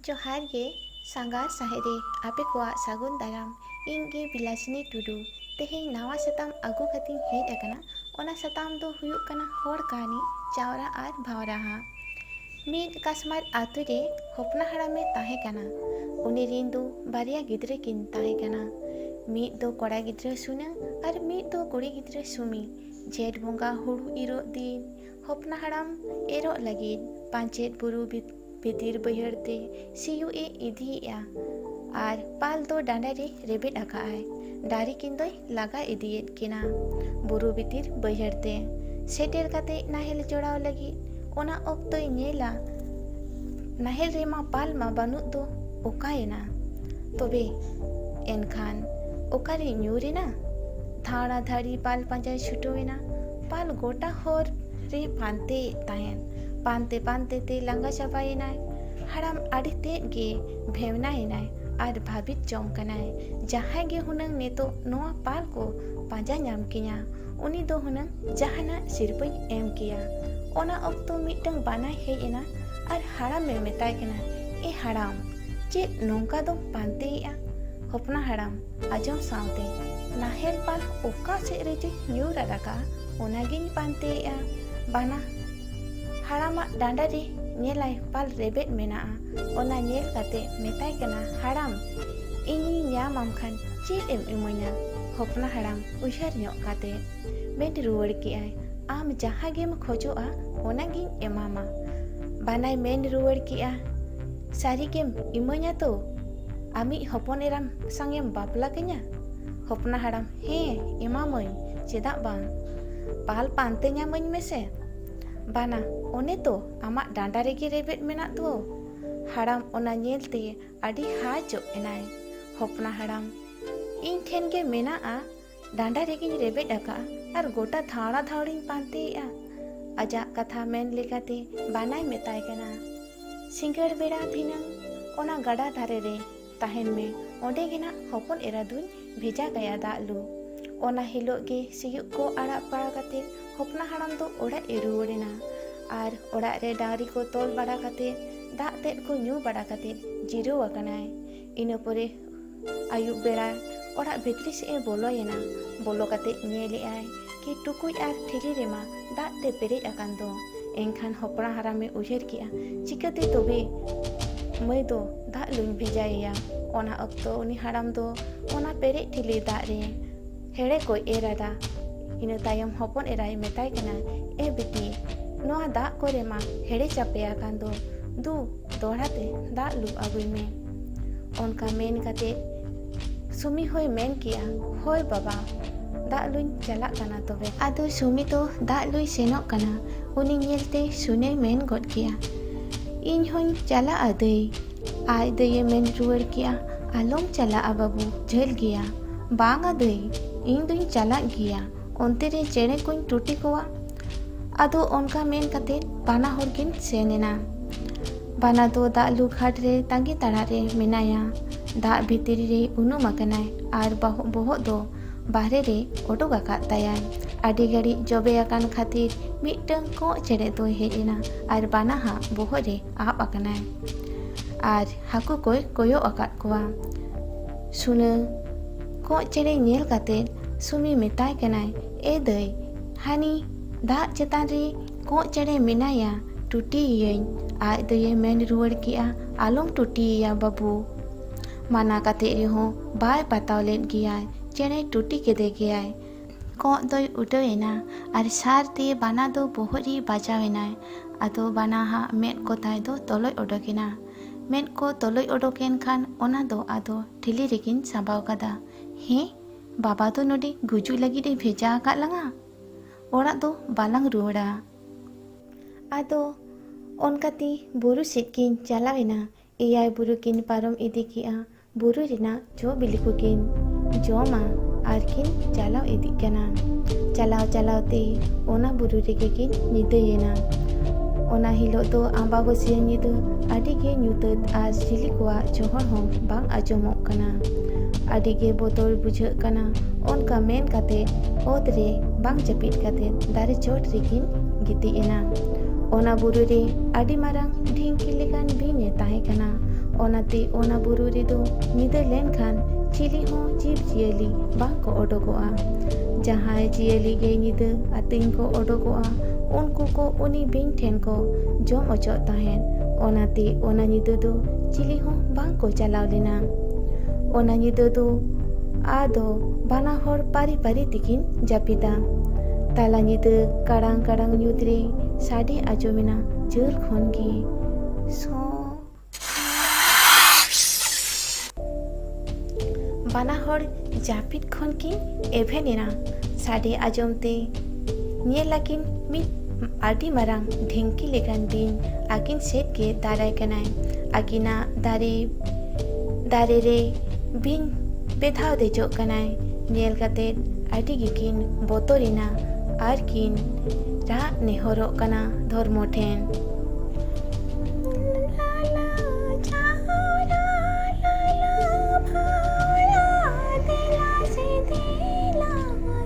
ᱡᱚᱦᱟᱨ ᱜᱮ ᱥᱟᱸᱜᱷᱟᱨ ᱥᱟᱦᱮᱫᱤ ᱟᱯᱮ ᱠᱚᱣᱟᱜ ᱥᱟᱹᱜᱩᱱ ᱫᱟᱨᱟᱢ ᱤᱧ ᱜᱮ ᱵᱤᱞᱟᱥᱤᱱᱤ ᱴᱩᱰᱩ ᱛᱮᱦᱮᱧ ᱱᱟᱣᱟ ᱥᱟᱛᱟᱢ ᱟᱹᱜᱩ ᱠᱟᱛᱮᱧ ᱦᱮᱡ ᱟᱠᱟᱱᱟ ᱚᱱᱟ ᱥᱟᱛᱟᱢ ᱫᱚ ᱦᱩᱭᱩᱜ ᱠᱟᱱᱟ ᱦᱚᱲ ᱠᱟᱹᱦᱱᱤ ᱪᱟᱣᱨᱟ ᱟᱨ ᱵᱷᱟᱣᱨᱟᱦᱟ ᱢᱤᱫ ᱠᱟᱥᱢᱟᱨ ᱟᱹᱛᱩ ᱨᱮ ᱦᱚᱯᱱᱟ ᱦᱟᱲᱟᱢ ᱮ ᱛᱟᱦᱮᱸ ᱠᱟᱱᱟ᱾ ᱩᱱᱤ ᱨᱤᱱ ᱫᱚ ᱵᱟᱨᱭᱟ ᱜᱤᱫᱽᱨᱟᱹ ᱠᱤᱱ ᱛᱟᱦᱮᱸ ᱠᱟᱱᱟ᱾ ᱢᱤᱫ ᱫᱚ ᱠᱚᱲᱟ ᱜᱤᱫᱽᱨᱟᱹ ᱥᱩᱱᱟᱹ ᱟᱨ ᱢᱤᱫ ᱫᱚ ᱠᱩᱲᱤ ᱜᱤᱫᱽᱨᱟᱹ ᱥᱩᱢᱤ᱾ ᱡᱷᱮᱸᱴ ᱵᱚᱸᱜᱟ ᱦᱩᱲᱩ ᱤᱨᱚᱜ ᱫᱤᱱ ᱦᱚᱯᱱᱟ ᱦᱟᱲᱟᱢ ᱮᱨᱚᱜ ᱞᱟᱹᱜᱤᱫ ᱯᱟᱧᱪᱮᱛ ᱵᱩᱨᱩ ᱵᱷᱤᱛᱤᱨ ᱵᱟᱹᱭᱦᱟᱹᱲ ᱛᱮ ᱥᱤᱭᱩᱜ ᱮ ᱤᱫᱤᱭᱮᱜᱼᱟ ᱟᱨ ᱯᱟᱞ ᱫᱚ ᱰᱟᱸᱰᱟ ᱨᱮ ᱨᱮᱵᱮᱫ ᱟᱠᱟᱜᱼᱟᱭ᱾ ᱰᱟᱹᱨᱤ ᱠᱤᱱ ᱫᱚᱭ ᱞᱟᱜᱟ ᱤᱫᱤᱭᱮᱫ ᱠᱤᱱᱟ ᱵᱩᱨᱩ ᱵᱷᱤᱛᱤᱨ ᱵᱟᱹᱭᱦᱟᱹᱲ ᱛᱮ᱾ ᱥᱮᱴᱮᱨ ᱠᱟᱛᱮ ᱱᱟᱦᱮᱞ ᱡᱚᱲᱟᱣ ᱞᱟᱹᱜᱤᱫ ᱚᱱᱟ ᱚᱠᱛᱚᱭ ᱧᱮᱞᱟ ᱱᱟᱦᱮᱞ ᱨᱮᱢᱟ ᱯᱟᱞ ᱢᱟ ᱵᱟᱹᱱᱩᱜ ᱫᱚ ᱚᱠᱟᱭᱮᱱᱟ ᱛᱚᱵᱮ ᱮᱱᱠᱷᱟᱱ ᱚᱠᱟᱨᱮ ᱧᱩᱨ ᱮᱱᱟ? ᱫᱷᱟᱲᱟ ᱫᱷᱟᱹᱲᱤ ᱯᱟᱞ ᱯᱟᱸᱡᱟᱭ ᱪᱷᱩᱴᱟᱹᱣ ᱮᱱᱟ᱾ ᱯᱟᱞ ᱜᱚᱴᱟ ᱦᱚᱨ ᱨᱮ ᱯᱟᱱᱛᱮᱭᱮᱫ ᱛᱟᱦᱮᱸᱫ᱾ ᱯᱟᱱᱛᱮ ᱯᱟᱱᱛᱮ ᱛᱮ ᱞᱟᱸᱜᱟ ᱪᱟᱵᱟᱭᱮᱱᱟᱭ᱾ ᱦᱟᱲᱟᱢ ᱟᱹᱰᱤ ᱛᱮᱫ ᱜᱮ᱾ ᱵᱷᱮᱣᱱᱟ ᱮᱱᱟᱭ ᱟᱨ ᱵᱷᱟᱹᱵᱤᱛ ᱡᱚᱝ ᱠᱟᱱᱟᱭ ᱡᱟᱦᱟᱸᱭ ᱜᱮ ᱦᱩᱱᱟᱹᱝ ᱱᱤᱛᱚᱜ ᱱᱚᱣᱟ ᱯᱟᱞ ᱠᱚ ᱯᱟᱸᱡᱟ ᱧᱟᱢ ᱠᱤᱧᱟ ᱩᱱᱤ ᱫᱚ ᱦᱩᱱᱟᱹᱝ ᱡᱟᱦᱟᱱᱟᱜ ᱥᱤᱨᱯᱟᱹᱧ ᱮᱢ ᱠᱮᱭᱟ ᱚᱱᱟ ᱚᱠᱛᱚ ᱢᱤᱫᱴᱟᱝ ᱵᱟᱱᱟᱭ ᱦᱮᱡ ᱮᱱᱟ ᱟᱨ ᱦᱟᱲᱟᱢᱮ ᱢᱮᱛᱟᱭ ᱠᱟᱱᱟ ᱮ ᱦᱟᱲᱟᱢ ᱪᱮᱫ ᱱᱚᱝᱠᱟ ᱫᱚᱢ ᱯᱟᱱᱛᱮᱭᱮᱜᱼᱟ ᱦᱚᱯᱱᱟ ᱦᱟᱲᱟᱢ ᱟᱸᱡᱚᱢ ᱥᱟᱶᱛᱮ ᱱᱟᱦᱮᱞ ᱯᱟᱞ ᱚᱠᱟ ᱥᱮᱫ ᱨᱮᱪᱚᱧ ᱧᱩᱨ ᱟᱫ ᱟᱠᱟᱜᱼᱟ ᱚᱱᱟᱜᱤᱧ ᱯᱟᱱᱛᱮᱭᱮᱜᱼᱟ ᱵᱟᱱᱟ ᱦᱟᱲᱟᱢᱟᱜ ᱰᱟᱸᱰᱟ ᱨᱮ ᱧᱮᱞᱟᱭ ᱯᱟᱞ ᱨᱮᱵᱮᱫ ᱢᱮᱱᱟᱜᱼᱟ ᱚᱱᱟ ᱧᱮᱞ ᱠᱟᱛᱮ ᱢᱮᱛᱟᱭ ᱠᱟᱱᱟ ᱦᱟᱲᱟᱢ ᱤᱧᱤᱧ ᱧᱟᱢ ᱟᱢ ᱠᱷᱟᱱ ᱪᱮᱫ ᱮᱢ ᱤᱢᱟᱹᱧᱟ ᱦᱚᱯᱱᱟ ᱦᱟᱲᱟᱢ ᱩᱭᱦᱟᱹᱨ ᱧᱚᱜ ᱠᱟᱛᱮ ᱢᱮᱱ ᱨᱩᱣᱟᱹᱲ ᱠᱮᱜᱼᱟᱭ ᱟᱢ ᱡᱟᱦᱟᱸ ᱜᱮᱢ ᱠᱷᱚᱡᱚᱜᱼᱟ ᱚᱱᱟ ᱜᱤᱧ ᱮᱢᱟᱢᱟ ᱵᱟᱱᱟᱭ ᱢᱮᱱ ᱨᱩᱣᱟᱹᱲ ᱠᱮᱜᱼᱟ ᱥᱟᱹᱨᱤ ᱜᱮᱢ ᱤᱢᱟᱹᱧᱟ ᱛᱚ ᱟᱢᱤᱡ ᱦᱚᱯᱚᱱ ᱮᱨᱟᱢ ᱥᱟᱝᱮᱢ ᱵᱟᱯᱞᱟ ᱠᱟᱹᱧᱟ ᱦᱚᱯᱱᱟ ᱦᱟᱲᱟᱢ ᱦᱮᱸ ᱮᱢᱟᱢᱟᱹᱧ ᱪᱮᱫᱟᱜ ᱵᱟᱝ ᱯᱟᱞ ᱯᱟᱱᱛᱮ ᱧᱟᱢᱟᱹᱧ ᱢᱮᱥᱮ ᱵᱟᱱᱟ ᱚᱱᱮ ᱛᱚ ᱟᱢᱟᱜ ᱰᱟᱸᱰᱟ ᱨᱮᱜᱮ ᱨᱮᱵᱮᱫ ᱢᱮᱱᱟᱜ ᱫᱚ ᱦᱟᱲᱟᱢ ᱚᱱᱟ ᱧᱮᱞ ᱛᱮ ᱟᱹᱰᱤ ᱦᱟᱡᱚᱜ ᱮᱱᱟᱭ ᱦᱚᱯᱱᱟ ᱦᱟᱲᱟᱢ ᱤᱧ ᱴᱷᱮᱱ ᱜᱮ ᱢᱮᱱᱟᱜᱼᱟ ᱰᱟᱸᱰᱟ ᱨᱮᱜᱮᱧ ᱨᱮᱵᱮᱫ ᱟᱠᱟᱫᱼᱟ ᱟᱨ ᱜᱚᱴᱟ ᱫᱷᱟᱣᱲᱟ ᱫᱷᱟᱣᱲᱤᱧ ᱯᱟᱱᱛᱮᱭᱮᱫᱼᱟ ᱟᱡᱟᱜ ᱠᱟᱛᱷᱟ ᱢᱮᱱ ᱞᱮᱠᱟᱛᱮ ᱵᱟᱱᱟᱭ ᱢᱮᱛᱟᱭ ᱠᱟᱱᱟ ᱥᱤᱸᱜᱟᱹᱲ ᱵᱮᱲᱟ ᱫᱷᱤᱱᱟᱹᱝ ᱚᱱᱟ ᱜᱟᱰᱟ ᱫᱷᱟᱨᱮ ᱨᱮ ᱛᱟᱦᱮᱱ ᱢᱮ ᱚᱸᱰᱮ ᱜᱮ ᱱᱟᱜ ᱦᱚᱯᱚᱱ ᱮᱨᱟ ᱫᱩᱧ ᱵᱷᱮᱡᱟ ᱠᱟᱭᱟ ᱫᱟᱜ ᱞᱩ ᱚᱱᱟ ᱦᱤᱞᱳᱜ ᱜᱮ ᱥᱤᱭᱳᱜ ᱠᱚ ᱟᱲᱟᱜ ᱵᱟᱲᱟ ᱠᱟᱛᱮ ᱦᱚᱯᱱᱟ ᱦᱟᱲᱟᱢ ᱫᱚ ᱚᱲᱟᱜ ᱮ ᱨᱩᱣᱟᱹᱲ ᱮᱱᱟ ᱟᱨ ᱚᱲᱟᱜ ᱨᱮ ᱰᱟᱝᱨᱤ ᱠᱚ ᱛᱚᱞ ᱵᱟᱲᱟ ᱠᱟᱛᱮ ᱫᱟᱜ ᱛᱮᱫ ᱠᱚ ᱧᱩ ᱵᱟᱲᱟ ᱠᱟᱛᱮ ᱡᱤᱨᱟᱹᱣ ᱟᱠᱟᱱᱟᱭ ᱤᱱᱟᱹ ᱯᱚᱨᱮ ᱟᱹᱭᱩᱵ ᱵᱮᱲᱟ ᱚᱲᱟᱜ ᱵᱷᱤᱛᱨᱤ ᱥᱮᱫ ᱮ ᱵᱚᱞᱚᱭᱮᱱᱟ ᱵᱚᱞᱚ ᱠᱟᱛᱮ ᱧᱮᱞᱮᱜᱼᱟᱭ ᱠᱤ ᱴᱩᱠᱩᱡ ᱟᱨ ᱴᱷᱤᱞᱤ ᱨᱮᱢᱟ ᱫᱟᱜ ᱛᱮ ᱯᱮᱨᱮᱡ ᱟᱠᱟᱱ ᱫᱚ᱾ ᱮᱱᱠᱷᱟᱱ ᱦᱚᱯᱲᱟ ᱦᱟᱨᱟᱢᱮ ᱩᱭᱦᱟᱹᱨ ᱠᱮᱫᱼᱟ ᱪᱤᱠᱟᱹᱛᱮ ᱛᱚᱵᱮ ᱢᱟᱹᱭ ᱫᱚ ᱫᱟᱜ ᱞᱩᱧ ᱵᱷᱮᱡᱟᱭᱮᱭᱟ᱾ ᱚᱱᱟ ᱚᱠᱛᱚ ᱩᱱᱤ ᱦᱟᱲᱟᱢ ᱫᱚ ᱚᱱᱟ ᱯᱮᱨᱮᱡ ᱴᱷᱤᱞᱤ ᱫᱟᱜ ᱨᱮ ᱦᱮᱲᱮ ᱠᱚᱭ ᱮᱨ ᱟᱫᱟ᱾ ᱤᱱᱟᱹ ᱛᱟᱭᱚᱢ ᱦᱚᱯᱚᱱ ᱮᱨᱟᱭ ᱢᱮᱛᱟᱭ ᱠᱟᱱᱟ, ᱮ ᱵᱤᱴᱤ, ᱱᱚᱣᱟ ᱫᱟᱜ ᱠᱚᱨᱮ ᱢᱟ ᱦᱮᱲᱮ ᱪᱟᱯᱮ ᱟᱠᱟᱱ ᱫᱚ, ᱫᱩ ᱫᱚᱦᱲᱟ ᱛᱮ ᱫᱟᱜ ᱞᱩ ᱟᱹᱜᱩᱭ ᱢᱮ᱾ ᱚᱱᱠᱟ ᱢᱮᱱ ᱠᱟᱛᱮ ᱥᱩᱢᱤ ᱦᱚᱸᱭ ᱢᱮᱱ ᱠᱮᱜᱼᱟ ᱦᱳᱭ ᱵᱟᱵᱟ ᱫᱟᱜ ᱞᱩᱧ ᱪᱟᱞᱟᱜ ᱠᱟᱱᱟ ᱛᱚᱵᱮ ᱟᱫᱚ ᱥᱩᱢᱤ ᱫᱚ ᱫᱟᱜ ᱞᱩᱭ ᱥᱮᱱᱚᱜ ᱠᱟᱱᱟ ᱩᱱᱤ ᱧᱮᱞᱛᱮ ᱥᱩᱱᱮᱭ ᱢᱮᱱ ᱜᱚᱫ ᱠᱮᱜᱼᱟ ᱤᱧ ᱦᱚᱸᱧ ᱪᱟᱞᱟᱜᱼᱟ ᱫᱟᱹᱭ ᱟᱡ ᱫᱟᱹᱭᱮ ᱢᱮᱱ ᱨᱩᱣᱟᱹᱲ ᱠᱮᱜᱼᱟ ᱟᱞᱚᱢ ᱪᱟᱞᱟᱜᱼᱟ ᱵᱟᱹᱵᱩ ᱡᱷᱟᱹᱞ ᱜᱮᱭᱟ ᱵᱟᱝᱟ ᱫᱟᱹᱭ ᱤᱧ ᱫᱩᱧ ᱪᱟᱞᱟᱜ ᱜᱮᱭᱟ ᱚᱱᱛᱮ ᱨᱮ ᱪᱮᱬᱮ ᱠᱚᱧ ᱴᱩᱴᱤ ᱠᱚᱣᱟ ᱟᱫᱚ ᱚᱱᱠᱟ ᱢᱮᱱ ᱠᱟᱛᱮ ᱵᱟᱱᱟ ᱦᱚᱲ ᱠᱤᱱ ᱥᱮᱱ ᱮᱱᱟ ᱵᱟᱱᱟ ᱫᱚ ᱫᱟᱜ ᱞᱩ ᱜᱷᱟᱴ ᱨᱮ ᱛᱟᱺᱜᱤ ᱛᱟᱲᱟᱜ ᱨᱮ ᱢᱮᱱᱟᱭᱟ ᱫᱟᱜ ᱵᱷᱤᱛᱨᱤ ᱨᱮ ᱩᱱᱩᱢ ᱟᱠᱟᱱᱟᱭ ᱟᱨ ᱵᱟᱦᱚᱜ ᱵᱚᱦᱚᱜ ᱫᱚ ᱵᱟᱦᱨᱮ ᱨᱮ ᱚᱰᱚᱠ ᱟᱠᱟᱫ ᱛᱟᱭᱟᱭ ᱟᱹᱰᱤ ᱜᱷᱟᱹᱲᱤᱡ ᱡᱚᱵᱮ ᱟᱠᱟᱱ ᱠᱷᱟᱹᱛᱤᱨ ᱢᱤᱫᱴᱟᱝ ᱠᱚᱸᱜ ᱪᱮᱬᱮ ᱫᱚᱭ ᱦᱮᱡ ᱮᱱᱟ ᱟᱨ ᱵᱟᱱᱟ ᱦᱟᱜ ᱵᱚᱦᱚᱜ ᱨᱮ ᱟᱵ ᱟᱠᱟᱱᱟᱭ ᱟᱨ ᱦᱟᱹᱠᱩ ᱠᱚᱭ ᱠᱚᱭᱚᱜ ᱟᱠᱟᱫ ᱠᱚᱣᱟ ᱥᱩᱱᱟᱹ ᱠᱚᱸᱜ ᱪᱮᱬᱮ ᱧᱮᱞ ᱠᱟᱛᱮ ᱥᱩᱢᱤ ᱢᱮᱛᱟᱭ ᱠᱟᱱᱟᱭ ᱮ ᱫᱟᱹᱭ ᱦᱟᱹᱱᱤ ᱫᱟᱜ ᱪᱮᱛᱟᱱ ᱨᱮ ᱠᱚᱸᱜ ᱪᱮᱬᱮ ᱢᱮᱱᱟᱭᱟ ᱴᱩᱴᱤᱭᱮᱭᱟᱹᱧ ᱟᱡ ᱫᱚᱭᱮ ᱢᱮᱱ ᱨᱩᱣᱟᱹᱲ ᱠᱮᱜᱼᱟ ᱟᱞᱚᱢ ᱴᱩᱴᱤᱭᱮᱭᱟ ᱵᱟᱹᱵᱩ ᱢᱟᱱᱟ ᱠᱟᱛᱮ ᱨᱮᱦᱚᱸ ᱵᱟᱭ ᱯᱟᱛᱟᱣ ᱞᱮᱫ ᱜᱮᱭᱟᱭ ᱪᱮᱬᱮ ᱴᱩᱴᱤ ᱠᱮᱫᱮ ᱜᱮᱭᱟᱭ ᱠᱚᱸᱜ ᱫᱚᱭ ᱩᱰᱟᱹᱣ ᱮᱱᱟ ᱟᱨ ᱥᱟᱨ ᱛᱮ ᱵᱟᱱᱟ ᱫᱚ ᱵᱚᱦᱚᱜ ᱨᱮ ᱵᱟᱡᱟᱣ ᱮᱱᱟᱭ ᱟᱫᱚ ᱵᱟᱱᱟ ᱦᱟᱜ ᱢᱮᱫ ᱠᱚ ᱛᱟᱭ ᱫᱚ ᱛᱚᱞᱚᱡ ᱚᱰᱚᱠ ᱮᱱᱟ ᱢᱮᱫ ᱠᱚ ᱛᱚᱞᱚᱡ ᱚᱰᱚᱠ ᱮᱱ ᱠᱷᱟᱱ ᱚᱱᱟ ᱫᱚ ᱟᱫᱚ ᱴᱷᱤᱞᱤ ᱨᱮᱜᱤᱧ ᱥᱟᱸᱵᱟᱣ ᱠᱟᱫᱟ ᱦᱮᱸ ᱵᱟᱵᱟ ᱫᱚ ᱱᱚᱰᱮ ᱜᱩᱡᱩᱜ ᱞᱟᱹᱜᱤᱫ ᱮ ᱵᱷᱮᱡᱟ ᱟᱠᱟᱫ ᱞᱟᱝᱟ ᱚᱲᱟᱜ ᱫᱚ ᱵᱟᱞᱟᱝ ᱨᱩᱣᱟᱹᱲᱟ ᱟᱫᱚ ᱚᱱᱠᱟᱛᱮ ᱵᱩᱨᱩ ᱥᱮᱫ ᱠᱤᱱ ᱪᱟᱞᱟᱣ ᱮᱱᱟ ᱮᱭᱟᱭ ᱵᱩᱨᱩ ᱠᱤᱱ ᱯᱟᱨᱚᱢ ᱤᱫᱤ ᱠᱮᱜᱼᱟ ᱵᱩᱨᱩ ᱨᱮᱱᱟᱜ ᱡᱚ ᱵᱤᱞᱤ ᱠᱚᱠᱤᱱ ᱡᱚᱢᱟ ᱟᱨ ᱠᱤᱱ ᱪᱟᱞᱟᱣ ᱤᱫᱤᱜ ᱠᱟᱱᱟ ᱪᱟᱞᱟᱣ ᱪᱟᱞᱟᱣ ᱛᱮ ᱚᱱᱟ ᱵᱩᱨᱩ ᱨᱮᱜᱮ ᱠᱤᱱ ᱧᱤᱫᱟᱹᱭᱮᱱᱟ ᱚᱱᱟ ᱦᱤᱞᱳᱜ ᱫᱚ ᱟᱢᱵᱟᱵᱟᱹᱥᱭᱟᱹ ᱧᱤᱫᱟᱹ ᱟᱹᱰᱤ ᱜᱮ ᱧᱩᱛᱟᱹᱛ ᱟᱨ ᱪᱤᱞᱤ ᱠᱚᱣᱟᱜ ᱪᱚᱦᱚᱲ ᱦᱚᱸ ᱵᱟᱝ ᱟᱸᱡᱚᱢᱚᱜ ᱠᱟᱱᱟ ᱟᱹᱰᱤ ᱜᱮ ᱵᱚᱛᱚᱨ ᱵᱩᱡᱷᱟᱹᱜ ᱠᱟᱱᱟ ᱚᱱᱠᱟ ᱢᱮᱱ ᱠᱟᱛᱮ ᱚᱛ ᱨᱮ ᱵᱟᱝ ᱡᱟᱹᱯᱤᱫ ᱠᱟᱛᱮ ᱫᱟᱨᱮ ᱪᱚᱴ ᱨᱮᱠᱤᱱ ᱜᱤᱛᱤᱡ ᱮᱱᱟ ᱚᱱᱟ ᱵᱩᱨᱩ ᱨᱮ ᱟᱹᱰᱤ ᱢᱟᱨᱟᱝ ᱰᱷᱤᱝᱠᱤ ᱞᱮᱠᱟᱱ ᱵᱤᱧ ᱮ ᱛᱟᱦᱮᱸ ᱠᱟᱱᱟ ᱚᱱᱟᱛᱮ ᱚᱱᱟ ᱵᱩᱨᱩ ᱨᱮᱫᱚ ᱧᱤᱫᱟᱹ ᱞᱮᱱᱠᱷᱟᱱ ᱪᱤᱞᱤ ᱦᱚᱸ ᱡᱤᱵᱽ ᱡᱤᱭᱟᱹᱞᱤ ᱵᱟᱝ ᱠᱚ ᱚᱰᱚᱠᱚᱜᱼᱟ ᱡᱟᱦᱟᱸᱭ ᱡᱤᱭᱟᱹᱞᱤ ᱜᱮ ᱧᱤᱫᱟᱹ ᱟᱹᱛᱤᱧ ᱠᱚ ᱚᱰᱚᱠᱚᱜᱼᱟ ᱩᱱᱠᱩ ᱠᱚ ᱩᱱᱤ ᱵᱤᱧ ᱴᱷᱮᱱ ᱠᱚ ᱡᱚᱢ ᱚᱪᱚᱜ ᱛᱟᱦᱮᱸᱫ ᱚᱱᱟᱛᱮ ᱚᱱᱟ ᱧᱤᱫᱟᱹ ᱫᱚ ᱪᱤᱞᱤ ᱦᱚᱸ ᱵᱟᱝ ᱠᱚ ᱪᱟᱞᱟᱣ ᱞᱮᱱᱟ ᱚᱱᱟ ᱧᱤᱫᱟᱹ ᱫᱚ ᱟᱫᱚ ᱵᱟᱱᱟ ᱦᱚᱲ ᱯᱟᱹᱨᱤ ᱯᱟᱹᱨᱤ ᱛᱮᱠᱤᱱ ᱡᱟᱹᱯᱤᱫᱟ ᱛᱟᱞᱟ ᱧᱤᱫᱟᱹ ᱠᱟᱲᱟᱝ ᱠᱟᱲᱟᱝ ᱧᱩᱛ ᱨᱮ ᱥᱟᱰᱮ ᱟᱸᱡᱚᱢᱮᱱᱟ ᱡᱷᱟᱹᱞ ᱠᱷᱚᱱ ᱜᱮ ᱥᱚ ᱵᱟᱱᱟ ᱦᱚᱲ ᱡᱟᱹᱯᱤᱫ ᱠᱷᱚᱱ ᱠᱤᱱ ᱮᱵᱷᱮᱱ ᱮᱱᱟ ᱥᱟᱰᱮ ᱟᱸᱡᱚᱢ ᱛᱮ ᱧᱮᱞ ᱟᱹᱠᱤᱱ ᱢᱤᱫ ᱟᱹᱰᱤ ᱢᱟᱨᱟᱝ ᱰᱷᱤᱝᱠᱤ ᱞᱮᱠᱟᱱ ᱵᱤᱧ ᱟᱹᱠᱤᱱ ᱥᱮᱫ ᱜᱮ ᱫᱟᱨᱟᱭ ᱠᱟᱱᱟᱭ ᱟᱹᱠᱤᱱᱟᱜ ᱫᱟᱨᱮ ᱫᱟᱨᱮ ᱨᱮ ᱵᱤᱧ ᱵᱮᱫᱷᱟᱣ ᱫᱮᱡᱚᱜ ᱠᱟᱱᱟᱭ ᱧᱮᱞ ᱠᱟᱛᱮ ᱟᱹᱰᱤ ᱜᱮᱠᱤᱱ ᱵᱚᱛᱚᱨᱮᱱᱟ ᱟᱨ ᱠᱤᱱ ᱨᱟᱜ ᱱᱮᱦᱚᱨᱚᱜ ᱠᱟᱱᱟ ᱫᱷᱚᱨᱢᱚ ᱴᱷᱮᱱ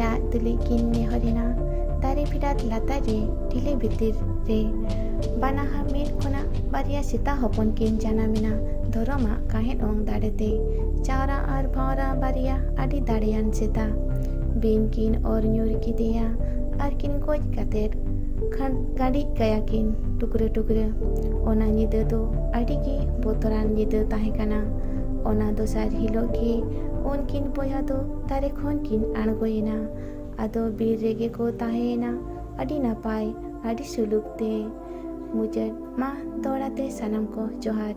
ᱨᱟᱜ ᱛᱩᱞᱩᱡ ᱠᱤᱱ ᱱᱮᱦᱚᱨᱮᱱᱟ ᱫᱟᱨᱮ ᱯᱷᱮᱰᱟᱛ ᱞᱟᱛᱟᱨ ᱨᱮ ᱴᱷᱤᱞᱤ ᱵᱷᱤᱛᱤᱨ ᱨᱮ ᱵᱟᱱᱟᱦᱟ ᱢᱤᱫ ᱠᱷᱚᱱᱟᱜ ᱵᱟᱨᱭᱟ ᱥᱮᱛᱟ ᱦᱚᱯᱚᱱ ᱠᱤᱱ ᱡᱟᱱᱟᱢᱮᱱᱟ ᱫᱷᱚᱨᱚᱢᱟᱜ ᱠᱟᱦᱮᱫ ᱚᱝ ᱫᱟᱲᱮ ᱛᱮ᱾ ᱪᱟᱶᱨᱟ ᱟᱨ ᱵᱷᱟᱶᱨᱟ ᱵᱟᱨᱭᱟ ᱟᱹᱰᱤ ᱫᱟᱲᱮᱭᱟᱱ ᱥᱮᱛᱟ᱾ ᱵᱤᱧ ᱠᱤᱱ ᱚᱨ ᱧᱩᱨ ᱠᱮᱫᱮᱭᱟ ᱟᱨ ᱠᱤᱱ ᱜᱚᱡ ᱠᱟᱛᱮ ᱠᱷᱟᱱ ᱜᱟᱹᱰᱤᱡ ᱠᱟᱭᱟ ᱠᱤᱱ ᱴᱩᱠᱨᱟᱹ ᱴᱩᱠᱨᱟᱹ᱾ ᱚᱱᱟ ᱧᱤᱫᱟᱹ ᱫᱚ ᱟᱹᱰᱤ ᱜᱮ ᱵᱚᱛᱚᱨᱟᱱ ᱧᱤᱫᱟᱹ ᱛᱟᱦᱮᱸ ᱠᱟᱱᱟ᱾ ᱚᱱᱟ ᱫᱚᱥᱟᱨ ᱦᱤᱞᱚᱜ ᱜᱮ ᱩᱱᱠᱤᱱ ᱵᱚᱭᱦᱟ ᱫᱚ ᱫᱟᱨᱮ ᱠᱷᱚᱱ ᱠᱤᱱ ᱟᱬᱜᱚᱭᱮᱱᱟ᱾ ᱟᱫᱚ ᱵᱤᱨ ᱨᱮᱜᱮ ᱠᱚ ᱛᱟᱦᱮᱸᱭᱮᱱᱟ ᱟᱹᱰᱤ ᱱᱟᱯᱟᱭ ᱟᱹᱰᱤ ᱥᱩᱞᱩᱠ ᱛᱮ᱾ ᱢᱩᱪᱟᱹᱫ ᱢᱟ ᱫᱚᱦᱲᱟ ᱛᱮ ᱥᱟᱱᱟᱢ ᱠᱚ ᱡᱚᱦᱟᱨ